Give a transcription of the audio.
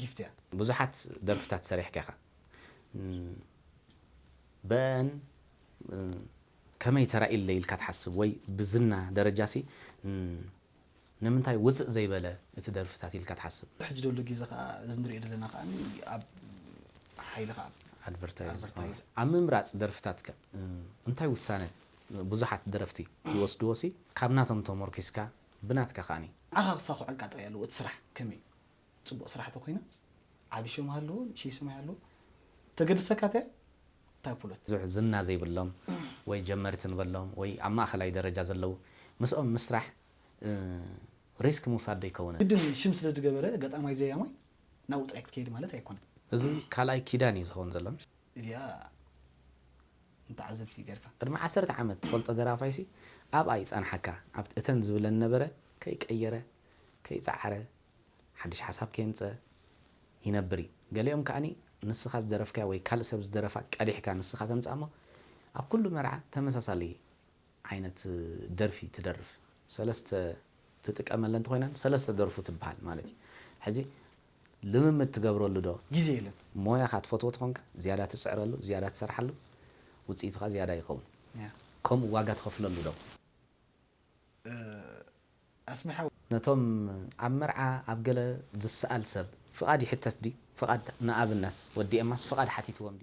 ጊፍት እያ። ብዙሓት ደርፍታት ሰሪሕካ ኢኻ በን ከመይ ተራኢለይ ኢልካ ትሓስብ ወይ ብዝና ደረጃሲ ንምንታይ ውጽእ ዘይበለ እቲ ደርፍታት ኢልካ ትሓስብ? ብሕጂ ደሎ ጊዘ ከኣ እዚ ንርእዮ ደለና ከኣ ኣብ ሓይሊ ከኣ ኣድቨርታይዝ። ኣብ ምምራጽ ደርፍታት ከ እንታይ ውሳነ ብዙሓት ደረፍቲ ይወስድዎሲ ካብ ናቶም ተሞርኪስካ ብናትካ ከኣ። ንዓኻ ክሳኹዐልካ ጥራይ ኣለዎ እቲ ስራሕ ከመይ ጽቡቅ ስራሕ ተኮይና ዓቢ ሸም ሃልዎ ንእሽይ ስም ኣይሃልዎ ተገድሰካ እቲኣ እታ ፕሎት። ብዙሕ ዝና ዘይብሎም ወይ ጀመርቲ ንበሎም ወይ ኣብ ማእከላይ ደረጃ ዘለዉ ምስኦም ምስራሕ ሪስክ ምውሳድ ዶ ኣይከውንን? ግድን ሽም ስለ ዝገበረ ገጣማይ ዘያማይ ናብኡ ጥራይ ክትከይድ ማለት ኣይኮነን። እዚ ካልኣይ ኪዳን እዩ ዝኸውን ዘሎ። እዚኣ ንተዓዘብቲ ገርካ። ቅድሚ ዓሰርተ ዓመት ትፈልጦ ደራፋይሲ ኣብኣ ይጸንሓካ ኣብቲ እተን ዝብለን ነበረ ከይቀየረ ከይጸዓረ ሓድሽ ሓሳብ ከየምጸ ይነብር እዩ ገሊኦም ከኣ ንስኻ ዝደረፍካዮ ወይ ካልእ ሰብ ዝደረፋ ቀዲሕካ ንስኻ ተምጽኣ እሞ ኣብ ኩሉ መርዓ ተመሳሳሊ ዓይነት ደርፊ ትደርፍ ሰለስተ ትጥቀመለን ተኾይነን ሰለስተ ደርፉ ትብሃል ማለት እዩ ሕጂ ልምምድ ትገብረሉ ዶ? ግዜ የለን። ሞያኻ ትፈትዎ ተኾንካ ዝያዳ ትጽዕረሉ፣ ዝያዳ ትሰርሓሉ፣ ውጽኢቱ ከኣ ዝያዳ ይኸውን። ከምኡ ዋጋ ትኸፍለሉ ዶ? ኣስሜ ሓወይ! ነቶም ኣብ መርዓ ኣብ ገለ ዝሰኣል ሰብ ፍቓድ ይሕተት ድዩ? ፍቓድ ንኣብነት ወዲ ኤማስ ፍቓድ ሓቲትዎም ድዩ?